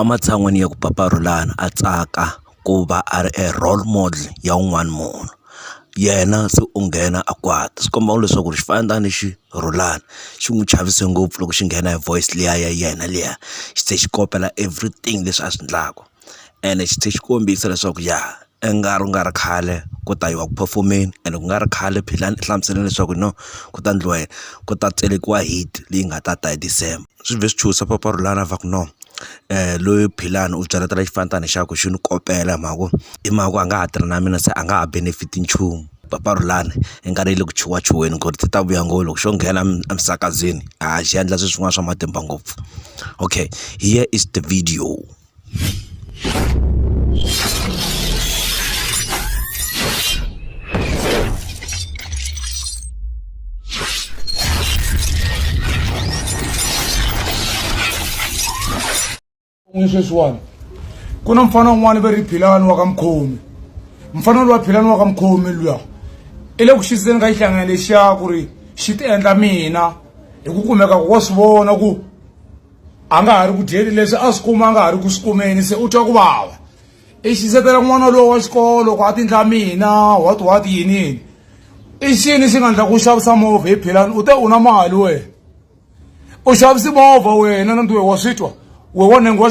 Ematshan'weni ya ku paparhulana a tsaka ku va a ri e role model ya un'wana munhu yena se u nghena a kwata swi komba leswaku ri xifandla lexi rhulaka xi n'wi chavise ngopfu loko xi nghena hi voice liya ya yena liya xi tlhe xi kopela everything leswi a swi endlaku ene xi tlhe xi kombisa leswaku ya i nga ri ku nga ri khale ku ta yiwa ku phofomeni ene ku nga ri khale phela ni hlamusela leswaku no ku ta ndliwa yini ku ta tselekiwa hit leyi nga ta ta hi December. swi vhe swi chuchisa mpfapfarhuto lana va ku no loyi Philani u byela ta la xifana tani hi xa ku xi ni kopela hi mhaka ku hi mhaka ku a nga ha tirhi na mina se a nga ha benefit nchumu mpfapfarhuto lani i nga ri yi le ku chuhachuheni ku ri ti ta vuya ngo loko xo nghena emisakazweni a xi endla swilo swin'wana swa matimba ngopfu okay here is the video. ni sweswiwani ku na mfana un'wana va ri philani wa ka mukhomi mfana lowa philani wa ka mukhomi luya i le ku xiseni ka xihlangana lexiya ku ri xi ti endla mina hi ku kumeka ku wa swi vona ku a nga ha ri ku dyeni leswi a swi kuma a nga ha ri ku swi kumeni se u twa ku vava i xisetela n'wana lowu wa xikolo ku a tindla mina what what yinini i xini xi nga ndla ku xavisa movha hi philani u te u na mali wena u xavisi movha wena na ntiwe wa swi twa we wa nengo wa